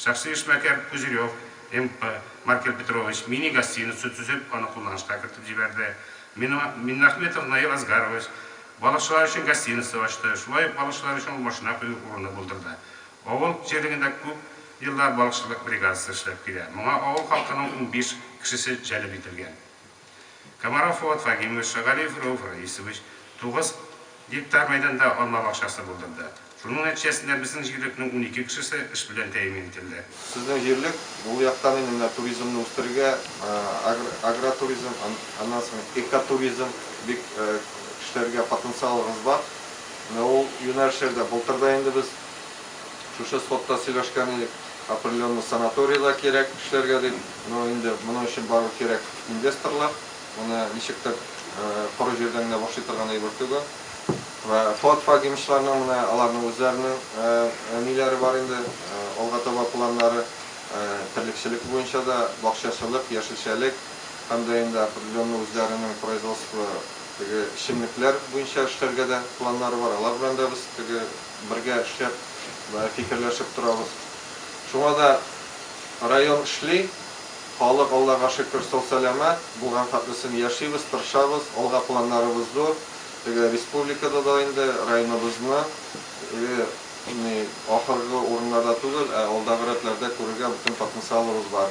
Шәхси эшмәкәр Пузырев, МП, Маркель Петрович мини-гостиница төзеп, аны кулланышка кертеп җибәрде. Миннахметов Наил Асгарович балыкчылар өчен гостиница ачты, шулай ук балыкчылар өчен ул машина кую урыны булдырды. Авыл җирлегендә күп еллар балыкчылык бригадасы эшләп килә. Моңа авыл халкының унбиш кешесе җәлеп ителгән. Комаров Фоат Фагимович, Шагалиев Рәүф Раисович тугыз гектар мәйданда алма бакчасы булдырды. Шуның нәтиҗәсендә безнең җирлекнең унике кешесе эш белән тәэмин ителде. Сезнең җирлек ул яктан инде менә туризмны үстерергә, агротуризм, аннан соң экотуризм бик эшләргә потенциалыгыз бар. Менә ул юнәлешләрдә былтыр да инде без шушы сходта сөйләшкән идек, определенный санаторий да кирәк эшләргә дип, ну инде моның өчен барыбер кирәк инвесторлар, моны ничектер коры җирдән генә башлый торган әйбер түгел. Вә Фоат Фагимовчларның менә аларның үзләренең ниләре бар инде, алга таба планнары, терлекчелек буенча да, бакчачылык, яшелчәлек һәм дә инде определенный үзләренең производство теге эчемлекләр буенча эшләргә дә планнары бар, алар белән дә без теге Бергә эшләп, фикерләшеп торабыз. Шуңа да район эшли, халык, Аллага шөкер, сау-сәламәт, булган хәтлесен яшибез, тырышабыз, алга планнарыбыз зур. Теге республикада да инде районыбызны теге ни ахыргы урыннарда түгел, ә алдагы рәтләрдә күрергә бөтен потенциалыбыз бар.